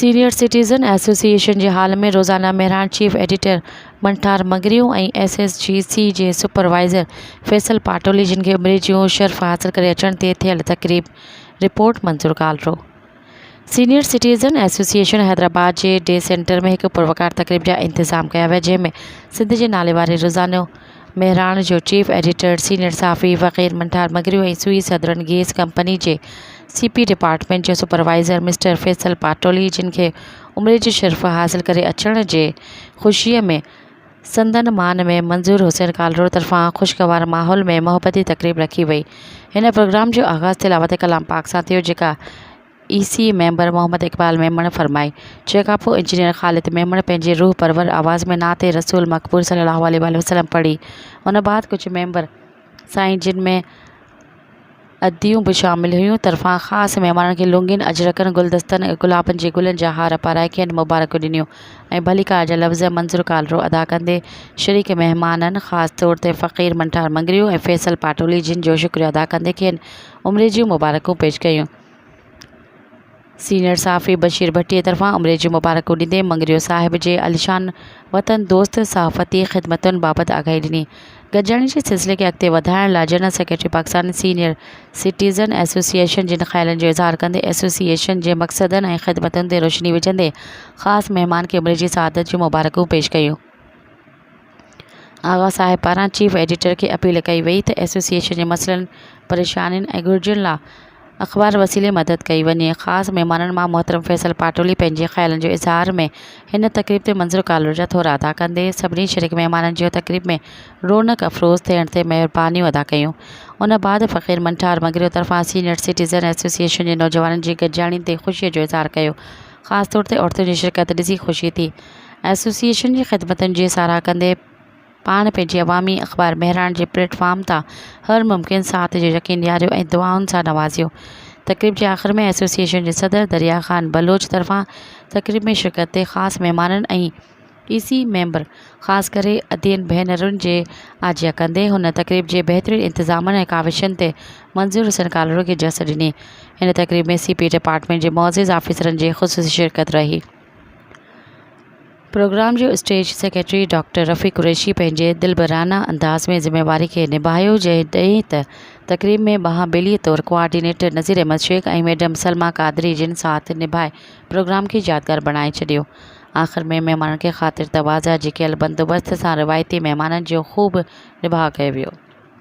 Senior citizen association جي hall ۾ روزانه Mehran chief editor Manthar Mangrio ۽ S S G C جي supervisor Faisal Patoli جن کي عمري جون شرفا حاصل ڪري اچڻ تي ٿيل تقريب report Manzoor Kalro senior citizen association Hyderabad جي ڊي سينٽر ۾ هڪ پروقار تقريب جا انتظام ڪيا ويا جنهن ۾ سنڌ جي ناليواري روزانو مهراڻ جو چيف ايڊيٽر، سينيئر صحافي Faqir Manthar Magrio ۽ Sui southern gas company جي سي پي ڊپارٽمينٽ جو سپروائيزر مسٽر فيصل پاٽولي جن کي عمري جي شرف حاصل ڪري اچڻ جي خوشيء ۾ سندن مان ۾ منظور حسين ڪالرو طرفان خوشگوار ماحول ۾ محبتي تقريب رکي وئي. هن پروگرام جو آغاز تلاوت ڪلام پاڪ سان ٿيو جيڪا A C A member Muhammad Iqbal Memon فرمائي جنهن کان پوء انجنيئر خالد ميمڻ پنهنجي روح پرور آواز ۾ نعت رسول مقبول صلي الله عليه واٰله وسلم پڙهي ان بعد ڪجهه ميمبر سائين جن ۾ اديون به شامل هيون طرفان خاص مهمانن کي لونگين اجرڪن گلدستن ۽ گلابن جي گلن جا هار پارائي کين مبارڪيون ڏنيون ۽ ڀليڪار جا لفظ ۽ منظر ڪالرو ادا ڪندي شريڪ مهمانن خاص طور تي فقير منٺار مڱريو ۽ فيصل پاٽولي جن جو شڪريو ادا ڪندي کين عمري جون مبارڪون پيش ڪيون سينيئر صحافي بشير ڀٽي طرفان عمري جون مبارڪون ڏيندي مڱريو صاحب جي عاليشان وطن دوست صحافتي خدمتن بابت آگاهي ڏني. گڏجاڻي جي سلسلي کي اڳتي وڌائڻ لاء general secretary Pakistan senior citizen association جن خيالن جو اظهار ڪندي ايسوسيئيشن جي مقصدن ۽ خدمتن تي روشني وجهندي خاص مهمان کي عمري جي سعادت جون مبارڪون پيش ڪيون. آغا صاحب پاران چيف ايڊيٽر کي اپيل ڪئي وئي ته ايسوسيئيشن جي مسئلن، پريشانين ۽ گهرجن لاء اخبار وسيلي مدد ڪئي وڃي. خاص مهمانن مان محترم فيصل پاٽولي پنهنجي خيالن جو اظهار ۾ هن تقريب تي منظر ڪالر جا ٿورا ادا ڪندي سڀني شريڪ مهمانن جون تقريب ۾ رونق افروز ٿيڻ تي مهربانيون ادا ڪيون. ان بعد فقير منٺار مڱريو طرفان سينيئر سٽيزن ايسوسيئيشن جي نوجوانن جي گڏجاڻي تي خوشي جو اظهار ڪيو. خاص طور تي عورتن جي شرڪت ڏسي خوشي ٿي. ايسوسيئيشن جي خدمتن جي ساراهه ڪندي پاڻ پنهنجي عوامي اخبار مهراڻ جي پليٽ فارم تان هر ممڪن ساٿ جو يقين ڏياريو ۽ دعائن سان نوازيو. تقريب جي آخر ۾ ايسوسيئيشن جي صدر دريا خان بلوچ طرفان تقريب ۾ شرڪت تي خاص مهمانن ۽ اي سي ميمبر خاص ڪري ادين ڀينرن جي آجيان ڪندي هن تقريب جي بهترين انتظامن ۽ ڪاوشن تي منظور حسين ڪالهوڙو کي جس ڏني هن تقريب ۾ سي پي ڊپارٽمينٽ جي معزز آفيسرن جي خصوصي شرڪت رهي پروگرام جو stage secretary doctor Rafiq Qureshi پنهنجي دلبرانه انداز ۾ ذميواري کي نڀايو جڏهن ته تقريب ۾ ٻانهن ٻيلي طور ڪوآرڊينيٽر نذير احمد شيخ ۽ ميڊم سلميٰ قادري جن ساٿ نڀائي پروگرام کي يادگار بڻائي ڇڏيو آخر ۾ مهمانن کي خاطر تواضع جي ڪيل بندوبست سان روايتي مهمانن جو خوب نباهه ڪيو ويو.